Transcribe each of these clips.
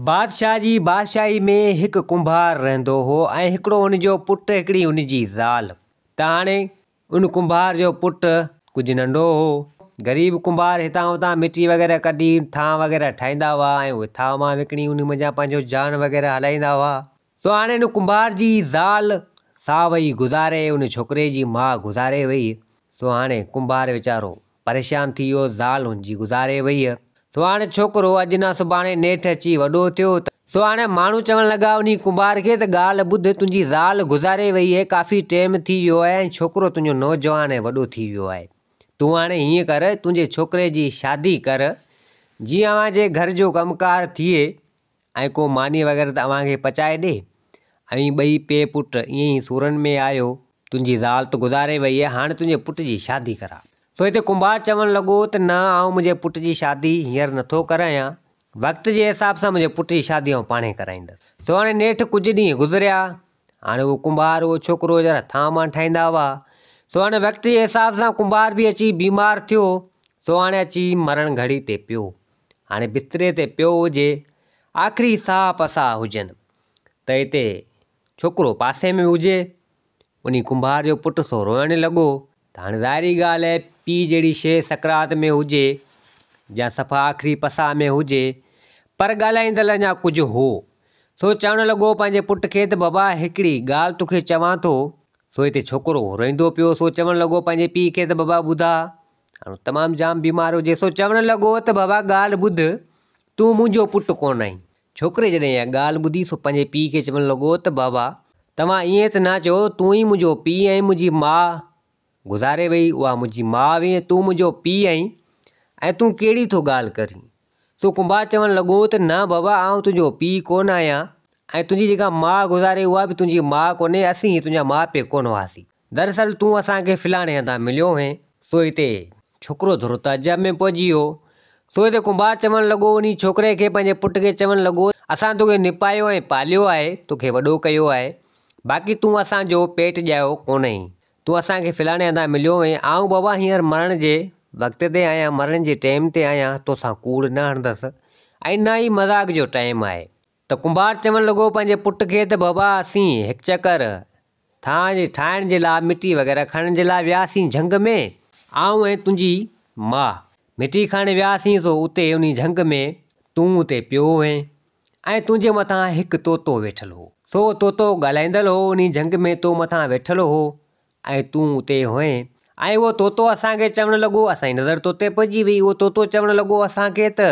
بادشاهه جي بادشاهي ۾ هڪ ڪنڀار رهندو هو ۽ هڪڙو ان جو پٽ هڪڙي ان جي زال ته هاڻي ان ڪنڀار جو پٽ ڪجهه ننڍو هو غريب ڪنڀار هتان هتان مٽي وغيره ڪڍي ٿانء وغيره ٺاهيندا هئا ۽ اهي ٿانء وانء وڪڻي ان منجهان پنهنجو جان وغيره هلائيندا هئا سو هاڻي ان ڪنڀار جي زال سا وئي گذاري ان ڇوڪري جي ماء گذاري وئي سو هاڻي ڪنڀار ويچارو پريشان ٿي ويو زال هن جي گذاري وئي سو هاڻي ڇوڪرو اڄ نه سڀاڻي نيٺ اچي وڏو ٿيو ته سو هاڻي ماڻهو چوڻ لڳا انهي ڪنڀار کي ته ڳالهه ٻڌ تنهنجي زال گذاري وئي آهي ڪافي ٽيم ٿي ويو آهي ۽ ڇوڪرو تنهنجو نوجوان ۽ وڏو ٿي ويو آهي تون هاڻي هيئن ڪر تنهنجي ڇوڪري جي شادي ڪر جيئن اوهان جي گهر جو ڪم ڪار ٿئي ۽ ڪو ماني وغيره ته اوهان کي پچائي ڏي. اوهين ٻئي پي پٽ ائين ئي سورن ۾ آهيو، تنهنجي زال ته گذاري وئي آهي، هاڻ تنهنجي پٽ جي شادي ڪراء. سو هتي ڪنڀار چوڻ لڳو ته نه آئون منهنجي پٽ جي شادي هينئر نه ٿو ڪرايان، وقت جي حساب سان منهنجي پٽ جي شادي آئون پاڻهي ڪرائيندس. سو هاڻي نيٺ ڪجهه ڏينهن گذريا، هاڻي اهو ڪنڀار اهو ڇوڪرو جيڏا ٿانء مان ٺاهيندا هئا، سو هاڻي وقت جي حساب سان ڪنڀار به اچي بيمار ٿيو، سو هاڻي اچي مرڻ گهڙي تي پيو. هاڻي بستري تي پيو هجي، آخري ساهه پساهه هجن ته هتي ڇوڪرو پاسي ۾ هجي. انهي ڪنڀار جو پٽ سو روئڻ لڳو ته هاڻي ظاهري ڳالهه آهي پيء جهڙي شيء سڪرات ۾ هجي يا صفا آخري پساهه ۾ هجي، پر ڳالهائيندڙ اڃا ڪجهه هو، سو چوڻ لڳو پنهنجي پٽ کي ته بابا هڪڙي ڳالهه توکي چوان ٿو، سو هتي ڇوڪرو روئيندو پيو سو چوڻ لڳو پنهنجي پيء کي ته بابا ٻڌاء! هاڻ تمام جام بيمار هجي سو چوڻ لڳو ته بابا ڳالهه ٻڌ تون منهنجو پٽ ڪونه آهين ڇوڪري جڏهن اها ڳالهه ٻڌي سو پنهنجي پيء کي چوڻ لڳو ته بابا توهان ائين ته نه چئو تون ئي منهنجو پيء آهين منهنجي ماء گذاري وئي اها منهنجي ماء هئي ۽ تون منهنجو پيء آهين ۽ تون ڪهڙي ٿو ڳالهه ڪرين سو ڪنڀار چوڻ لڳو ته نه بابا آئون تنهنجو پيء ڪونه آهيان ۽ تنهنجي جيڪا ماء گذاري اها به تنهنجي ماء ڪونهي اسين ئي تنهنجا ماء پيء ڪونه هئاسين دراصل تون اسان کي فلاڻي هنڌان مليو هئين، سو هتي. ڇوڪرو ٿورو تعجب ۾ پئجي ويو. سو هتي ڪنڀار چوڻ لڳو، انهيء ڇوڪري کي پنهنجي پٽ کي چوڻ لڳو، اسان توکي نپايو ۽ پاليو آهي، توکي وڏو ڪيو آهي، باقي تون اسان جو پيٽ ڄايو ڪونهين. تون اسان کي فلاڻي هنڌان مليو هئين. آئون بابا هينئر مرڻ جي وقت تي آهيان، مرڻ جي ٽيم تي آهيان، توسان ڪوڙ نه هڻندس ۽ نه ئي مذاق جو ٽيم آهي. ته ڪنڀار چوڻ لڳو پنهنجي پٽ کي ته بابا اسين هڪ چڪر ٿانء ٺاهڻ جي لاء مٽي وغيره کڻڻ جي لاء وياسين جهنگ ۾ آئون ۽ تنهنجي ماء مٽي کڻڻ وياسين سو اتي انهي جهنگ ۾ تون اتي پيو هئين ۽ تنهنجي مٿان هڪ طوطو ويٺل هو سو طوطو ڳالهائيندڙ هو انهي جهنگ ۾ تو مٿان ويٺل هو ۽ تون اتي هئين ۽ اهو طوطو اسان کي چوڻ لڳو اسان جي نظر طوطي پئجي وئي اهو طوطو چوڻ لڳو اسان کي ته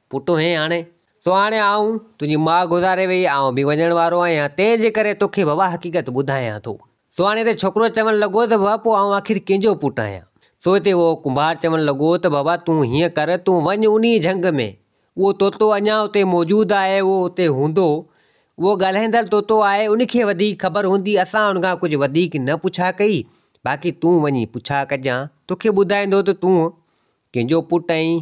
پٽ هين هاڻي؟ سو هاڻي آئون، تنهنجي ماء گذاري ويئي، آئون به وڃڻ وارو آهيان، تنهن جي ڪري تو کي بابا حقيقت ٻڌايان ٿو. سو هاڻي هتي ڇوڪرو چوڻ لڳو ته بابا پوء آئون آخر ڪنهن جو پٽ آهيان؟ سو هتي اهو ڪنڀار چوڻ لڳو ته بابا تون هيئن ڪر، تون وڃ انهيء جهنگ ۾، اهو طوطو اڃا اتي موجود آهي، اهو اتي هوندو، اهو ڳالهائيندڙ طوطو آهي، ان کي وڌيڪ خبر هوندي، اسان ان کان ڪجهه وڌيڪ نه پڇا ڪئي، باقي تون وڃي پڇا ڪجان، تو کي ٻڌائيندو ته تون ڪنهن جو پٽ آهين؟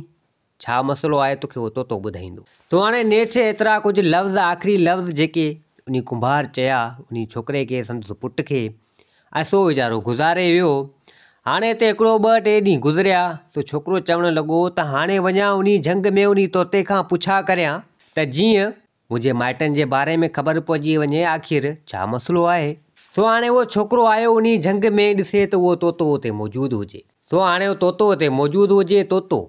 ڇا مسئلو آهي توکي هو طوطو ٻڌائيندو. تو هاڻي نيٺ ايترا ڪجهه لفظ آخري لفظ جيڪي انهي ڪنڀار چيا انهي ڇوڪري کي سندس پٽ کي ۽ سو ويچارو گذاري ويو هاڻي هتي هڪڙو ٻه ٽي ڏينهن گذريا سو ڇوڪرو چوڻ لڳو ته هاڻي وڃان انهي جهنگ ۾ انهي طوطي کان پڇا ڪريان ته جيئن منهنجي مائٽن جي باري ۾ خبر پئجي وڃي آخر ڇا مسئلو آهي. سو هاڻي اهو ڇوڪرو آيو انهي جهنگ ۾ ڏسي ته اهو طوطو اتي موجود هجي. سو هاڻي اهو طوطو اتي موجود هجي طوطو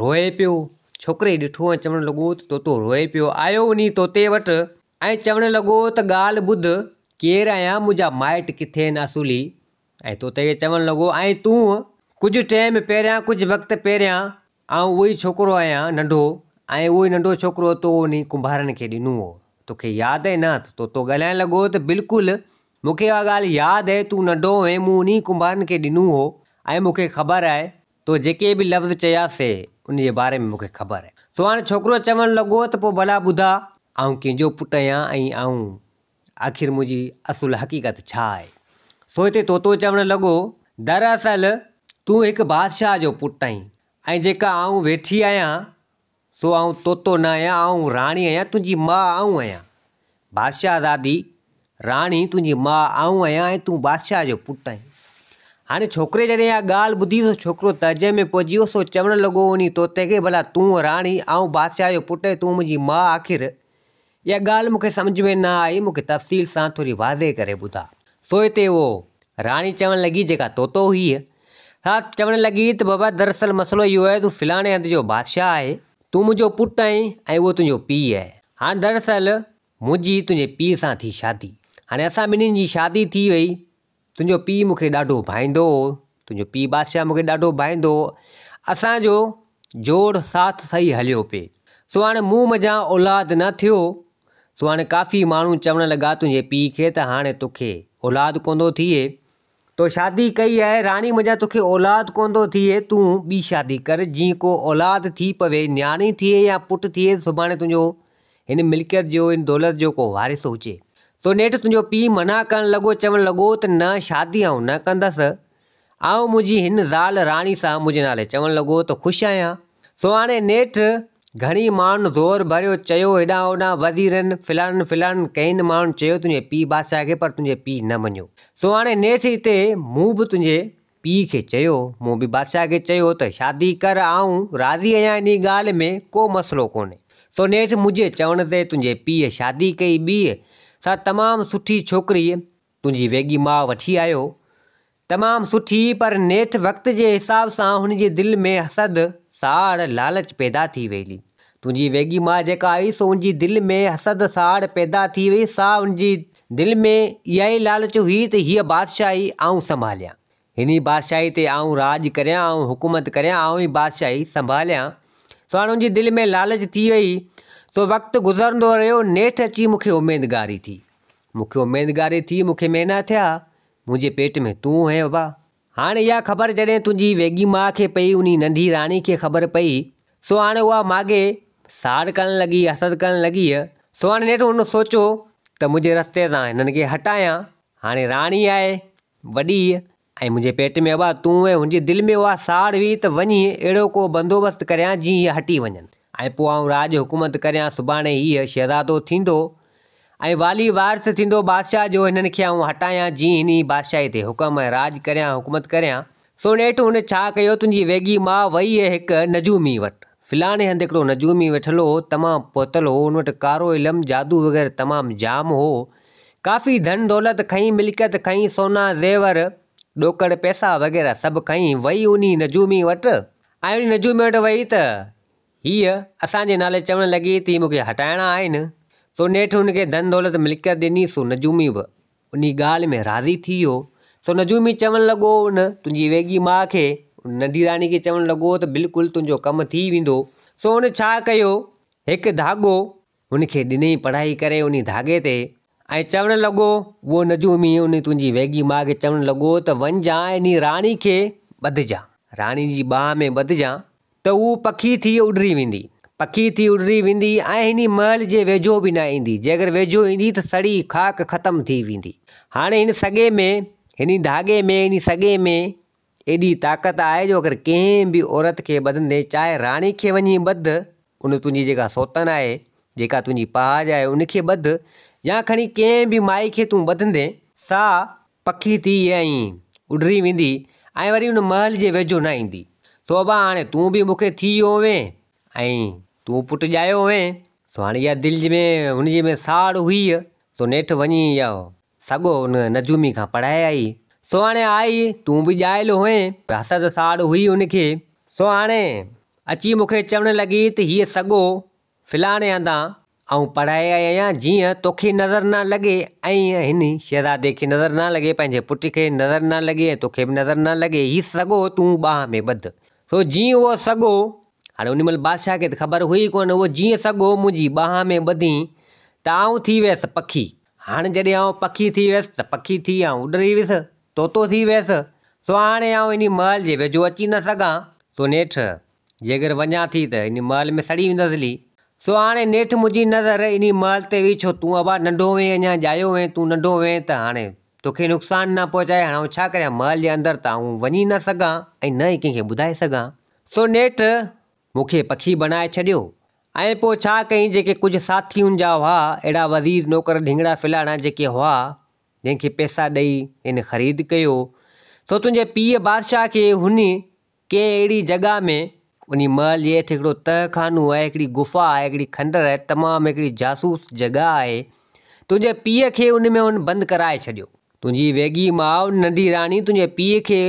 روئي پيو. ڇوڪري ڏٺو ۽ چوڻ لڳو ته طوطو روئي پيو. آيو انهي طوطي وٽ ۽ چوڻ لڳو ته ڳالهه ٻڌ ڪير آهيان منهنجا مائٽ ڪٿي آهن اصولي ۽ طوطي کي چوڻ لڳو ۽ تون ڪجهه ٽيم پهريان ڪجهه وقت پهريان آئون اهو ئي ڇوڪرو آهيان ننڍو، ۽ اهو ئي ننڍو ڇوڪرو تو انهي ڪنڀارڻ کي ڏنو هو. توکي ياد اهي نه ته تو ڳالهائڻ لڳو هو ته بلڪل مونکي اها ڳالهه ياد اهي تون ننڍو هئين مون انهي ڪنڀارڻ کي ڏنو هو ۽ مونکي خبر آهي تو جيڪي به لفظ چيا سي انهي جي باري ۾ مونکي خبر آهي. سو هاڻي ڇوڪرو چوڻ لڳو ته پوء ڀلا ٻڌاء آئون ڪنهن جو پٽ آهيان ۽ آئون آخر منهنجي اصل حقيقت ڇا آهي؟ سوئتي طوطو چوڻ لڳو، دراصل تون هڪ بادشاهه جو پٽ آهين ۽ جيڪا آئون ويٺي آهيان سو آئون طوطو نه آهيان، آئون راڻي آهيان، تنهنجي ماء آئون آهيان. بادشاهزادي، راڻي تنهنجي ماء آئون آهيان ۽ تون بادشاهه جو پٽ آهين. هاڻي ڇوڪري جڏهن اها ڳالهه ٻڌي سو ڇوڪرو تهجي ۾ پئجي ويو، سو چوڻ لڳو انهي طوطي کي، ڀلا تون راني، آئون بادشاهه جو پٽ ۽ تون منهنجي ماء آخر اها ڳالهه مون کي سمجهه ۾ نه آئي، مون کي تفصيل سان ٿوري واضح ڪري ٻڌاء. سو هتي اهو. راڻي چوڻ لڳي، جيڪا طوطو هئي، سا چوڻ لڳي ته بابا دراصل مسئلو اهو آهي تون فلاڻي هنڌ جو بادشاهه آهين، تون منهنجو پٽ آهين ۽ اهو تنهنجو پيء آهي. هاڻ دراصل منهنجي تنهنجي پيء سان ٿي شادي. هاڻي اسان ٻنهي جي شادي ٿي وئي تنهنجو پيء مون کي ڏاڍو ڀائيندو هو تنهنجو پيء بادشاهه مون کي ڏاڍو ڀائيندو هو اسانجو جوڙ ساٿ سهي هليو پئي سو هاڻي مون منجهان اولاد نه ٿيو سو هاڻي ڪافي ماڻهو چوڻ لڳا تنهنجي پيء کي ته هاڻي توکي اولاد ڪو نٿو ٿئي تو شادي ڪئي آهي راڻي منجهان توکي اولاد ڪو نٿو ٿئي تون ٻي شادي ڪر جيئن ڪو اولاد ٿي پوي نياڻي ٿئي يا پٽ ٿئي سڀاڻي تنهنجو هن ملڪيت جو، هن دولت جو ڪو وارث هجي. تو نيٺ تنهنجو پيء منع ڪرڻ لڳو، چوڻ لڳو ته نه شادي آئون نه ڪندس. آئون منهنجي هن زال راڻي سان منهنجي نالي چوڻ لڳو ته خوش آهيان. سو هاڻي نيٺ گهڻي ماڻهن زور ڀريو، چيو هيڏانهن هوڏانهن وزيرن، فلانن فلانن ڪئين ماڻهن چيو تنهنجي پيء بادشاهه کي پر تنهنجي پيء نه مڃيو. سو هاڻي نيٺ هتي مون به تنهنجي پيء کي چيو، مون به بادشاهه کي چيو ته شادي ڪر، آئون راضي آهيان انهيء ڳالهه ۾ ڪو مسئلو ڪونهي. سو نيٺ منهنجي چوڻ تي تنهنجي پيء شادي ڪئي، ٻيء سان تمام سٺي ڇوڪريء تنهنجي ويڳي ماء وٺي آيو. تمام سٺي، پر نيٺ وقت جي حساب سان هن جي دل ۾ حسد، ساڙ، لالچ پيدا ٿي ويئي. تنهنجي ويڳي ماء جيڪا آئي سو ان جي دل ۾ حسد، ساڙ پيدا ٿي ويئي، سا ان جي دل ۾ اها ئي لالچ هئي ته هيء بادشاهي آئون سنڀاليان، هن ئي بادشاهي تي آئون راڄ ڪريان، آئون حڪومت ڪريان، آئون ئي بادشاهي سنڀاليان. سهڻن جي دل ۾ لالچ ٿي ويئي، سو وقت گذرندو رهيو، نيٺ اچي مون کي اميدگاري ٿي. مون کي اميدگاري ٿي، مون کي مهينا ٿيا، منهنجي پيٽ ۾ تون هئين ابا! هاڻ اها خبر جڏهن تنهنجي ويڳي ماء کي پئي انهي ننڍي راڻي کي خبر پئي سو هاڻ اها ماڳهي ساڙ ڪرڻ لڳي حسد ڪرڻ لڳيء سو هاڻ نيٺ هن سوچيو ته منهنجي رستي تان هنن کي هٽايان هاڻي راڻي آهي وڏي ۽ منهنجي پيٽ ۾ اها تون ۽ هنجي دل ۾ اها ساڙ هئي ته وڃي اهڙو ڪو بندوبست ڪريان جيئن هيء هٽي وڃن. ۽ پوء آئون راڄ حڪومت ڪريان، سڀاڻي هيء شهزادو ٿيندو ۽ والي وارث ٿيندو بادشاهه جو، هنن کي آئون هٽايان، جيئن هن ئي بادشاهيء تي حڪم ۽ راڄ ڪريان، حڪومت ڪريان. سو نيٺ هن ڇا ڪيو، تنهنجي ويڳي ماء ويئي هڪ نجومي وٽ، فلاڻي هنڌ هڪڙو نجومي ويٺل هو، تمام پهتل هو، هن وٽ ڪارو علم، جادو وغيره تمام جام هو، ڪافي ڌن دولت کنئين، ملڪيت کنئين، سونا زيور، ڏوڪڙ پئسا وغيره سڀ کنئين، ويئي انهيء نجومي وٽ آئيڻي نجومي وٽ وئي ته هيء اسان جي نالي چوڻ لڳي ته مون کي هٽائڻا آهن. سو نيٺ هن کي ڌن دولت ملڪيت ڏني سو نجومي به انهي ڳالهه ۾ راضي ٿي ويو. سو نجومي چوڻ لڳو ان تنهنجي ويڳي ماء کي ان ننڍي راڻي کي چوڻ لڳو ته بلڪل تنهنجو ڪم ٿي ويندو. سو هن ڇا ڪيو هڪ ڌاڳو هن کي ڏني پڙهائي ڪري انهي ڌاڳي تي ۽ چوڻ لڳو، اهو نجومي انهي تنهنجي ويڳي ماء کي چوڻ لڳو ته وڃجان انهي راڻي کي ٻڌجان، راڻي جي ٻانهن ۾ ٻڌجان ته هوء پکي ٿي اڏري ويندي، پکي ٿي اڏري ويندي ۽ هني محل جي ويجهو به نه ايندي، جيڪر ويجهو ايندي ته سڙي خاڪ ختم ٿي ويندي. هاڻي هن سڳي ۾، هني ڌاڳي ۾، هني سڳي ۾، ايڏي طاقت آهي جو اگر ڪنهن به عورت کي ٻڌندين، چاهي راڻي کي وڃي ٻڌ، ان تنهنجي جيڪا سوتن آهي، جيڪا تنهنجي پهاڄ آهي، ان کي ٻڌ يا کڻي ڪنهن به مائي کي تون ٻڌندين، سا پکي ٿي ائين اڏري ويندي ۽ وري ان محل جي ويجهو نه ايندي، سو ابا هاڻي تون به مون کي ٿي ويو هئين ۽ تون پٽ ڄايو هئين، سو هاڻي اها دل جنهن ۾ هن جي ۾ ساڙ هئي، سو نيٺ وڃي اها سگهو ان نجومي کان پڙهائي آئي. سو هاڻي آء تون به ڄايل هئين. حسد ساڙ هئي ان کي. سو هاڻي اچي مون کي چوڻ لڳي ته هيء سگهو فلاڻي هنڌان آئون پڙهائي آئي آهيان جيئن توکي نظر نه لڳي ۽ هن شهزادي کي نظر نه لڳي، پنهنجي پٽ کي نظر نه لڳي ۽ توکي به نظر نه لڳي. هي سگهو تون ٻانهن ۾ ٻڌ. سو جيئن اهو سگهو، هاڻي ان مهل بادشاهه کي ته خبر هئي ڪونه، اهو جيئن سگهو منهنجي ٻانهن ۾ ٻڌين ته آئون ٿي ويس پکي. هاڻ جڏهن آئون پکي ٿي ويس ته پکي ٿي آئون اڏري ويس، طوطو ٿي ويس، سو هاڻي آئون انهي محل جي ويجهو اچي نه سگهان، سو نيٺ جيڪر وڃان ٿي ته انهي محل ۾ سڙي ويندس هلي. سو هاڻي نيٺ منهنجي نظر انهي محل تي هئي، ڇو تون ابا ننڍو هئين اڃا ڄايو هئين، تون ننڍو هئين ته هاڻي توکي نقصان نه پهچائي، هاڻ آئون ڇا ڪريان، محل جي اندر ته آئون وڃي نه سگهان ۽ نه ئي ڪنهن کي ٻڌائي سگهان. سو نيٺ مون کي پکي بڻائي ڇڏيو ۽ پوء ڇا ڪيئين جيڪي ڪجهه ساٿيون جا هئا اهڙا وزير نوڪر ڍينگڙا ڦلاڻا جيڪي هئا جنهن کي پئسا ڏئي هن خريد ڪيو سو تنهنجي پيء بادشاهه کي هن ڪنهن اهڙي جڳهه ۾ انهي محل جي هيٺ هڪڙو تهه خانو آهي هڪڙي گفا آهي هڪڙي کنڊر آهي تمام هڪڙي جاسوس جڳهه آهي تنهنجي پيء کي ان ۾ هن بند ڪرائي ڇڏيو تنهنجي ويڳي ماء ننڍي راڻي تنهنجي پيء کي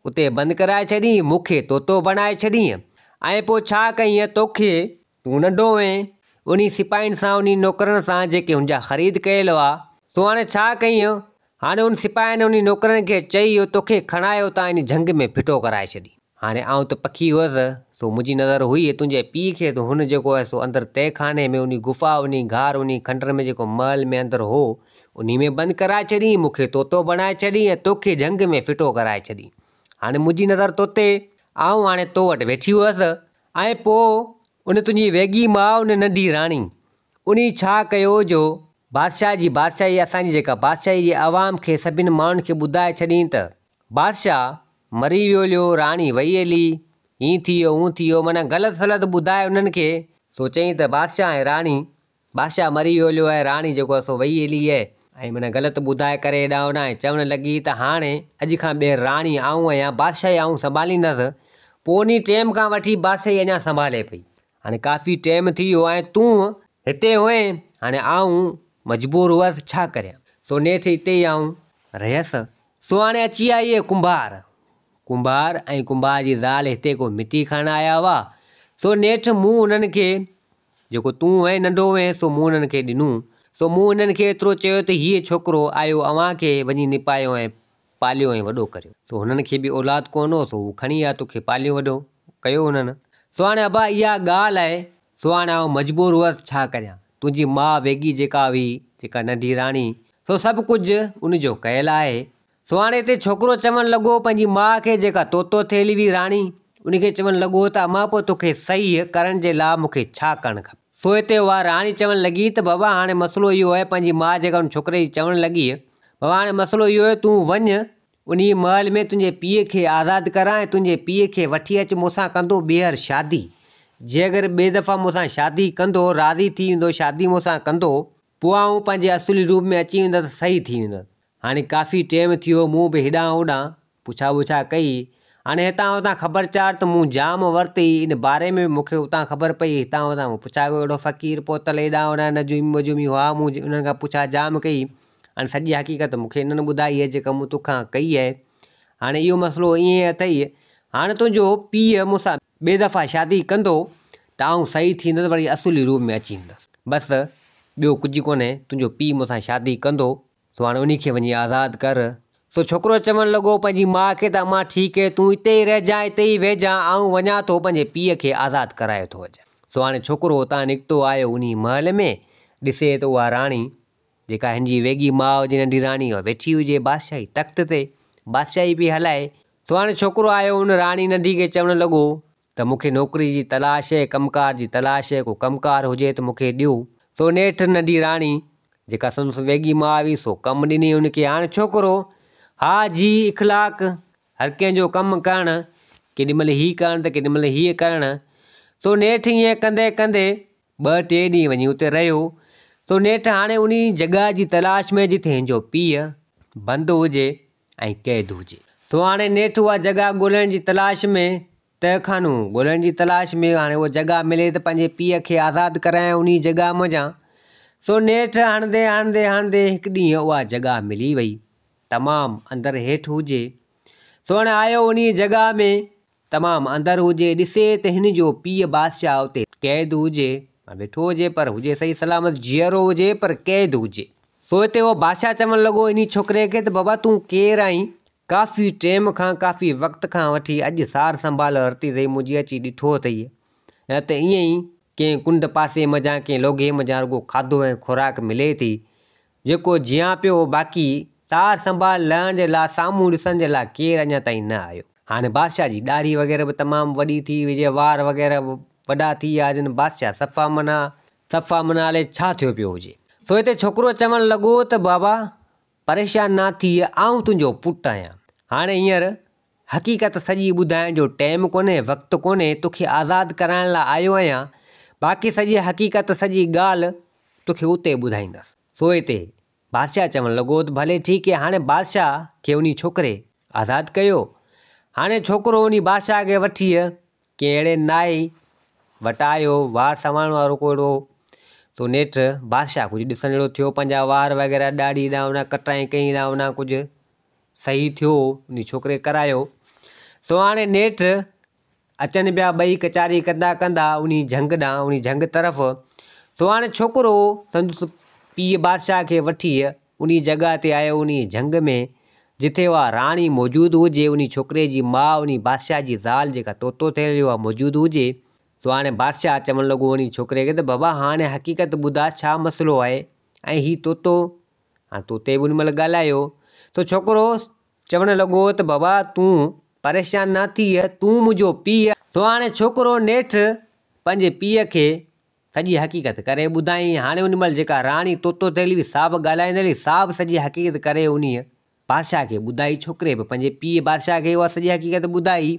اتي بند ڪرائي ڇڏينء، مون کي طوطو بڻائي ڇڏينء، ۽ پوء ڇا ڪينء توکي؟ تون ننڍو هئين، انهي سپاهين سان، انهي نوڪرن سان، جيڪي هن جا خريد ڪيل هئا، تون هاڻي ڇا ڪينء؟ هاڻي ان سپاهين ۽ انهي نوڪرن کي چئي، جو توکي کڻائي اتان انهي جهنگ ۾ ڦٽو ڪرائي ڇڏي. هاڻي آئون ته پکي هئس، سو منهنجي نظر هئي تنهنجي پيء کي، ته هن جيڪو هو سو اندر تهخاني ۾، انهي غفا، انهي غار، انهي کنڊر ۾ جيڪو محل ۾ اندر هو، انهي ۾ بند ڪرائي ڇڏين، مون کي طوطو بڻائي ڇڏين ۽ توکي جهنگ ۾ ڦٽو ڪرائي ڇڏين. هاڻي منهنجي نظر تو تي، آئون هاڻي تو وٽ ويٺي هئس ۽ پوء ان تنهنجي ويڳي ماء ان ننڍي راڻي، انهي ڇا ڪيو جو بادشاهه جي بادشاهي اسان جي جيڪا بادشاهي جي عوام کي سڀني ماڻهن کي ٻڌائي ڇڏين ته، بادشاهه مري ويو ليو، راڻي وئي هلي، هين ٿي ويو، هون ٿي ويو، معنيٰ غلط سلط ٻڌائي انهن کي، سو چئين ته بادشاهه ۽ راڻي بادشاهه مري ويو هليو آهي، راڻي جيڪو آهي سو ويئي هلي آهي. ائين معنيٰ غلط ٻڌائي ڪري هيڏانهن هوڏانهن ۽ چوڻ لڳي ته هاڻي اڄ کان ٻيهر راڻي آئون آهيان، بادشاهي آئون سنڀاليندس. پوء انهيء ٽيم کان وٺي بادشاهي اڃا سنڀالي پئي. هاڻي ڪافي ٽيم ٿي ويو آهي، تون هتي هئين، هاڻي آئون مجبور هئس، ڇا ڪريان؟ سو نيٺ هتي ئي آئون رهيس. سو هاڻي اچي آئي هي ڪنڀار. ڪنڀار ۽ ڪنڀار جي زال هتي ڪو مٽي کڻڻ آيا هئا، سو نيٺ مون انهن کي. جيڪو تون وين ننڍو وين سو مون انهن کي ڏنو. سو مون انهن کي ايترو چيو ته هيء ڇوڪرو آيو اوهان کي، وڃي نپايو ۽ پاليو ۽ وڏو ڪريو. سو هنن کي به اولاد ڪونه هو، سو هو کڻي آيو توکي پاليو وڏو ڪيو هنن. سو هاڻي ابا اها ڳالهه آهي، سو هاڻي آئون مجبور هئس ڇا ڪريان، تنهنجي ماء ويڳي جيڪا هئي، جيڪا ننڍي راڻي، سو سڀ ڪجهه ان جو ڪيل آهي، سهاڻي تي ڇوڪرو چوڻ لڳو پنهنجي ماء کي جيڪا تو تو ٿي هلي وئي راڻي ان کي چوڻ لڳو ته امان پوء توکي صحيح ڪرڻ جي لاء مون کي ڇا ڪرڻ کپي سو هتي اها راڻي چوڻ لڳي ته بابا هاڻي مسئلو اهو آهي پنهنجي ماء جيڪا ان ڇوڪري جي چوڻ لڳي بابا هاڻي مسئلو اهو آهي تون وڃ انهي محل ۾ تنهنجي پيء کي آزاد ڪران ۽ تنهنجي پيء کي وٺي اچ مون سان ڪندو ٻيهر شادي جي اگر ٻئي دفعا مون سان شادي ڪندو راضي ٿي ويندو شادي مون سان ڪندو پوء آئون پنهنجي اصلي روپ ۾ اچي ويندس ته صحيح ٿي ويندس هاڻي ڪافي ٽيم ٿي ويو، مون به هيڏانهن هوڏانهن پڇا ٻڇا ڪئي. هاڻي هتان هتان خبر چار ته مون جام ورتي، ان باري ۾ به مون کي اتان خبر پئي، هتان هتان مون پڇا ڪئي، اهڙو فقير پوتل هيڏانهن هوڏانهن نجومي وجومي هئا، مون انهن کان پڇا جام ڪئي. هاڻي سڄي حقيقت مون کي انهن ٻڌائي هي جيڪا مون توکان ڪئي هي. هاڻي اهو مسئلو ائين اٿئي، هاڻي تنهنجو پيء مون سان ٻي دفعا شادي ڪندو ته آئون صحيح ٿيندس وري اصولي روپ ۾ اچي ايندس. بس ٻيو ڪجهه ڪونهي، تنهنجو پيء مون سان شادي ڪندو. سو هاڻي انهي کي وڃي آزاد ڪر. سو ڇوڪرو چوڻ لڳو پنهنجي ماء کي ته امان ٺيڪ هي تون اتي ئي رهجان اتي ئي ويهجان آئون وڃان ٿو پنهنجي پيء کي آزاد ڪرايو ٿو اچان. سو هاڻي ڇوڪرو اتان نڪتو آيو انهي محل ۾ ڏسي ته اها راڻي جيڪا هن جي ويڳي ماء جي ننڍي راڻي اها ويٺي هجي بادشاهي تخت تي بادشاهي پئي هلائي. سو هاڻي ڇوڪرو آيو ان راڻي ننڍي کي چوڻ لڳو ته مون کي نوڪري جي تلاش هي، ڪم ڪار جي تلاش هي، ڪو ڪم ڪار هجي ته مون کي ڏيو. سو نيٺ ننڍي راڻي، جيڪا سندس ويڳي ماء هئي، سو ڪم ڏني هن کي. هاڻ ڇوڪرو، ها جي اخلاق، هر ڪنهن جو ڪم ڪرڻ، ڪيڏي مهل هي ڪرڻ ته ڪيڏي مهل هيء ڪرڻ. سو نيٺ ائين ڪندي ڪندي ٻه ٽي ڏينهن وڃي اتي رهيو. سو نيٺ هاڻي انهي جڳهه جي تلاش ۾ جتي هن جو پيء بند هجي. ۽ قيد هجي. سو هاڻي نيٺ اها جڳهه ڳولڻ جي تلاش ۾ تهخانو ڳولڻ جي تلاش ۾ هاڻي اها جڳهه ملي ته پنهنجي پيء کي آزاد ڪرايان انهيء جڳهه منجهان. سو نيٺ هڻندي هڻندي هڻندي هڪ ڏينهن اها جڳهه ملي وئي. تمام اندر هيٺ هجي. سو هاڻي آيو انهيء جڳهه ۾. تمام اندر هجي، ڏسي ته هن جو پيء بادشاهه اتي قيد هجي، ويٺو هجي پر هجي صحيح سلامت، جيئرو هجي پر قيد هجي. سو هتي اهو بادشاهه چوڻ لڳو انهي ڇوڪري کي ته بابا تون ڪير آهين؟ ڪافي ٽيم کان، ڪافي وقت کان وٺي اڄ سار سنڀال ورتي اٿئي، منهنجي اچي ڏٺو اٿئي نه ته ائين ئي ڪنهن ڪنڊ پاسي منجهان ڪنهن لوگهي منجهان رڳو کاڌو ۽ خوراڪ ملي ٿي، جيڪو جيان پيو هو باقي سار سنڀال لهڻ جي لاء سامهون ڏسڻ جي لاء ڪير اڃا تائين نه آيو. هاڻي بادشاهه جي ڏاڙهي وغيره به تمام وڏي ٿي ويئي جي وار وغيره به وڏا ٿي ويا هجن بادشاهه صفا منا صفا منا الئي ڇا ٿيو پيو هجي سو هتي ڇوڪرو چوڻ لڳو ته بابا پريشان نه ٿيء آئون تنهنجو پٽ آهيان هاڻي هينئر حقيقت سڄي ٻڌائڻ جو ٽيم ڪونهي وقت ڪونهي توکي آزاد ڪرائڻ لا آيو آهيان باقي سڄي حقيقت سڄي ڳالهه توکي اتي ٻڌائيندس سو اتي بادشاهه چوڻ لڳو ته ڀلي ٺيڪ هي هاڻي بادشاهه کي انهي ڇوڪري آزاد ڪيو هاڻي ڇوڪرو انهي بادشاهه کي وٺي ڪنهن اهڙي نائي وٽ آيو وار سنوارڻ وارو ڪو اهڙو سو نيٺ بادشاهه ڪجهه ڏسڻ جهڙو ٿيو پنهنجا وار وغيره ڏاڙهي ڏانهن ڪٽرائين ڪئين ڏانهن ڪجهه صحيح ٿيو انهي ڇوڪري ڪرايو. سهاڻي نيٺ اچن پيا ٻئي ڪچهري ڪندا ڪندا انهي جهنگ ڏانهن انهي جهنگ طرف سهاڻي ڇوڪرو سندس پيء بادشاهه کي وٺي انهي جڳهه تي آيو انهي جهنگ ۾ جتي اها راڻي موجود هجي انهي ڇوڪري جي ماء انهي بادشاهه جي زال جيڪا طوطو ٿيل هئي اها موجود هجي. سهاڻي بادشاهه چوڻ لڳو انهي ڇوڪري کي ته بابا هاڻي حقيقت ٻڌاء ڇا مسئلو آهي ۽ هي طوطو هاڻ طوطي به ان مهل ڳالهايو ته ڇوڪرو چوڻ لڳو ته بابا تون پريشان نه ٿيء، تون منهنجو پيء آهين. سو هاڻي ڇوڪرو نيٺ پنهنجي پيء کي سڄي حقيقت ڪري ٻڌائين. هاڻي ان مهل جيڪا راڻي طوطو ٿيل هئي سا به ڳالهائيندڙ هئي، سا به سڄي حقيقت ڪري انهيء بادشاهه کي ٻڌائي، ڇوڪري به پنهنجي پيء بادشاهه کي اها سڄي حقيقت ٻڌائي.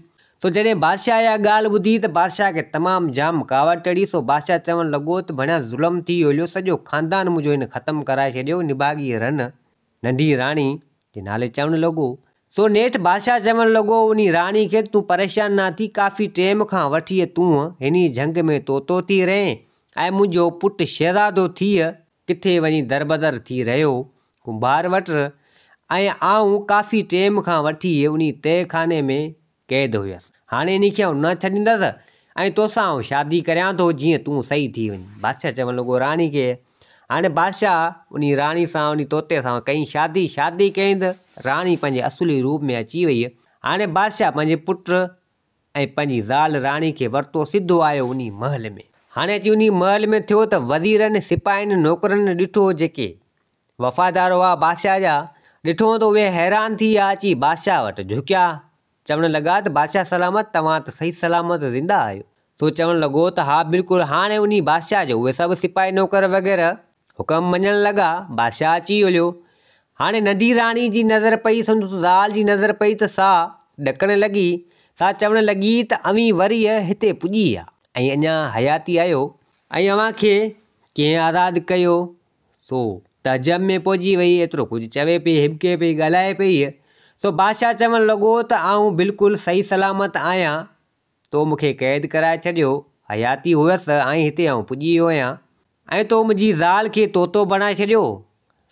سو جڏهن بادشاهه اها ڳالهه ٻڌي ته بادشاهه کي تمام جام ڪاوڙ چڙهي، سو بادشاهه چوڻ لڳو ته ڀڻيا ظلم ٿي ويوليو، سڄو خاندان منهنجو هن ختم ڪرائي ڇڏيو، نڀاڳي رن، ننڍي راڻي، جي نالي چوڻ لڳو. سو نيٺ بادشاهه چوڻ لڳو انهي راڻي کي ته تون پريشان نه ٿي، ڪافي ٽيم کان وٺي تون هني جهنگ ۾ طوطو ٿي رهين ۽ منهنجو پٽ شهزادو ٿيء، ڪٿي وڃي دربدر ٿي رهيو ڪنڀار وٽ ۽ آئون ڪافي ٽيم کان وٺي انهي تهه خاني ۾ قيد هيس. هاڻي انهي کي آئون نه ڇڏيندس ۽ توسان آئون شادي ڪريان ٿو جيئن تون سهي ٿي وڃين. بادشاهه چوڻ لڳو راڻي کي هاڻي بادشاهه انهي راڻي سان انهي طوطي سان ڪئين شادي. شادي ڪئين ته راڻي پنهنجي اصلي روپ ۾ اچي وئي. هاڻي بادشاهه پنهنجي پٽ ۽ پنهنجي زال راڻي کي ورتو سڌو آيو انهي محل ۾. هاڻي اچي انهي محل ۾ ٿيو ته وزيرن، سپاهين، نوڪرن ڏٺو جيڪي وفادار هئا بادشاهه جا، ڏٺون ته اهي حيران ٿي آ اچي بادشاهه وٽ جهڪيا، چوڻ لڳا ته بادشاهه سلامت توهان ته صحيح سلامت زنده آهيو. سو چوڻ لڳو ته ها بلڪل هاڻي انهي بادشاهه جو اهي سڀ سپاهي نوڪر وغيره حڪم مڃڻ لڳا، بادشاهه اچي هليو. هاڻي ننڍي راڻي جي نظر پئي سندس زال جي نظر پئي ته سا ڏڪڻ لڳي، سا چوڻ لڳي ته اوهين ورهيه هتي پڄي ويا. ۽ اڃا حياتي آهيو. ۽ اوهان کي ڪنهن آزاد ڪيو؟ سو تعجب ۾ پئجي وئي، ايترو ڪجهه چوي پئي، هٻڪي پئي، ڳالهائي پئي. سو بادشاهه چوڻ لڳو ته آئون بلڪل صحيح سلامت آهيان، تو مون کي قيد ڪرائي ڇڏيو، حياتي هئس ته آئين هتي آئون پڄي ويو هئان. ۽ تو منهنجي زال کي طوطو بڻائي ڇڏيو.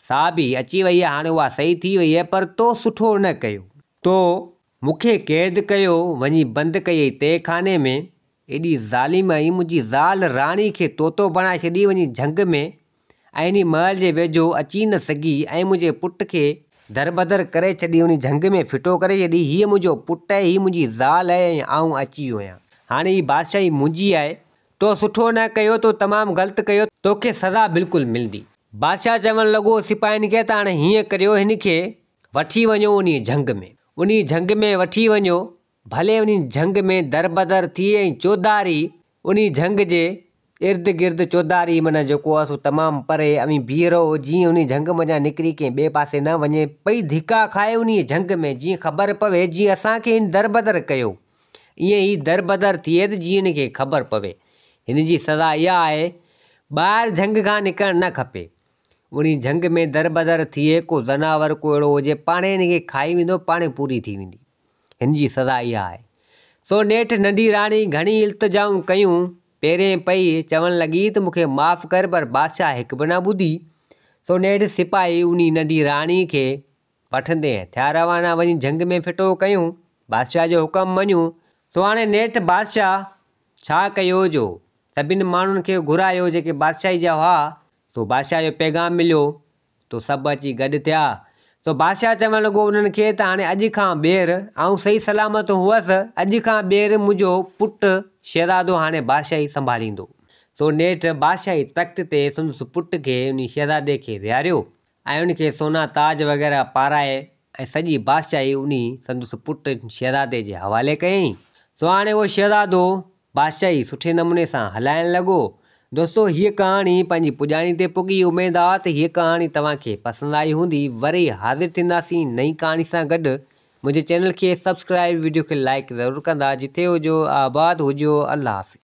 سا به اچي ويئي هاڻي اها سهي ٿي ويئي پر تو سٺو نه ڪيو. تو مون کي قيد ڪيو وڃي بند ڪيئي تهه خاني ۾، ايڏي ظالم آهين منهنجي زال راڻي کي طوطو بڻائي ڇڏي وڃي جهنگ ۾، انهي محل جي ويجهو اچي نه سگهي ۽ منهنجي پٽ کي دربدر ڪري ڇڏي انهي جهنگ ۾ ڦٽو ڪري ڇڏي هيء منهنجو پٽ آهي هي منهنجي زال آهي ۽ آئون اچي ويو آهيان هاڻي هي بادشاهي منهنجي آهي تو سٺو نه ڪيو تو تمام غلط ڪيو توکي سزا بلڪل ملندي. بادشاهه چوڻ لڳو سپاهين کي ته هاڻي هيئن ڪريو هن کي وٺي وڃو انهي جهنگ ۾ انهي جهنگ ۾ وٺي وڃو ڀلي انهي جهنگ ۾ دربدر ٿئي ۽ چوڌاري انهي جهنگ جي ارد گرد چوڌاري معنيٰ جيڪو آهي سو تمام پري اوهين بيهي رهو جيئن انهي جهنگ منجهان نڪري ڪنهن ٻئي پاسي نه وڃي پئي ڌڪا کائي انهي جهنگ ۾ جيئن خبر پوي جيئن اسان کي هن دربدر ڪيو ائين هي دربدر ٿئي ته جيئن هن کي خبر پوي هن جي سزا اها آهي ٻاهر جهنگ کان نڪرڻ نه کپي انهي جهنگ ۾ دربدر ٿئي ڪو ذناور ڪو اهڙو هجي پاڻهي هن کي کائي ويندو پاڻهي پوري ٿي ويندي. هن جي سزا اها آهي. سو نيٺ ننڍي راڻي گهڻي التجائون ڪيون، پيرين پئي، چوڻ لڳي ته مون کي معاف ڪر پر بادشاهه هڪ به نه ٻڌي. سو نيٺ سپاهي انهي ننڍي راڻي کي وٺندي ٿيا روانا وڃي جهنگ ۾ ڦٽو ڪيون، بادشاهه جو حڪم مڃيون. سو هاڻي نيٺ بادشاهه ڇا ڪيو جو سڀني ماڻهن کي گهرايو جيڪي بادشاهي جا هئا، سو بادشاهه جو پيغام مليو تو سڀ اچي گڏ ٿيا. سو بادشاهه چوڻ لڳو انهن کي ته هاڻي اڄ کان ٻيهر آئون صحيح سلامت هوس، اڄ کان ٻيهر منهنجو پٽ شهزادو هاڻي بادشاهي سنڀاليندو. سو نيٺ بادشاهي تخت تي سندس پٽ کي انهي شهزادي کي ويهاريو ۽ ان کي سونا تاج وغيره پارائي ۽ سڄي بادشاهي انهي سندس پٽ شهزادي جي حوالي ڪيائين. سو هاڻي اهو شهزادو بادشاهي سٺي نموني سان هلائڻ لڳو. دوستو هيء ڪهاڻي پنهنجي پڄاڻي تي پڳي اميد آ ته هيء ڪهاڻي توهان کي پسند آئي هوندي وري حاضر ٿينداسين نئين ڪهاڻي سان گڏ منهنجي چينل کي سبسڪرائب وڊيو کي لائڪ ضرور ڪندا جتي هجو آباد هجو الله حافظ.